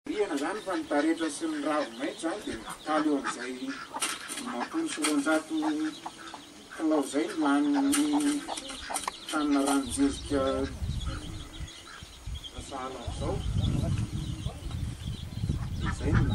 Marihana izany fa ny taretra sy ny ravi-maitso izany dia mitaly eo amin'izay dimampolo sy roanjato kilao izay no lanin'ny tanina ranon-jezika sahala amin'izao. Dia izay no.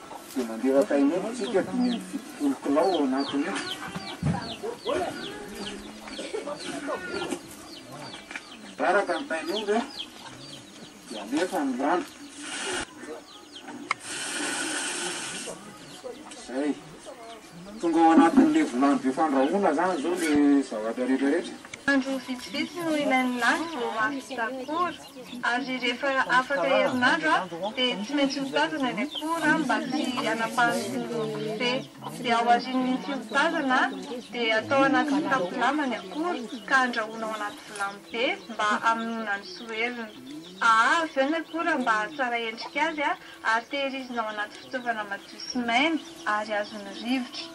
Dia mandeha ao Taïwan isika dimy amby fitopolo kilao ao anatin'ny Mibaraka ny tain'omby an, dia alefa ny rano. Izay. Tonga ao anatin'ny levolan'ny be fandrahoana izany izao ilay zavatra rehetrarehetra. Andro vitsivitsy no ilain'ny lany vao mahavita akory. Ary rehefa afaka herinandro aho dia tsy maintsy mitazana ny akora aho mba tsy hanapahan'ny tongolo kofehy. Dia ao aorian'ny fihotazana dia atao anaty kitapo lamba ny akora ka andrahoina ao anaty vilany be mba hamonoana ny soheriny. Ahaha avy eo ny akora mba hahatsara endrika azy ary tehirizina ao anaty fitaovana madio sy maina ary azon'ny rivotra.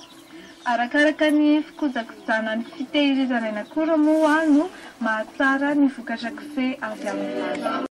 Arakaraka ny fikojakojana ny fitehirizana aina akora moa no mahatsara ny vokatra kofehy avy amin'ny vato.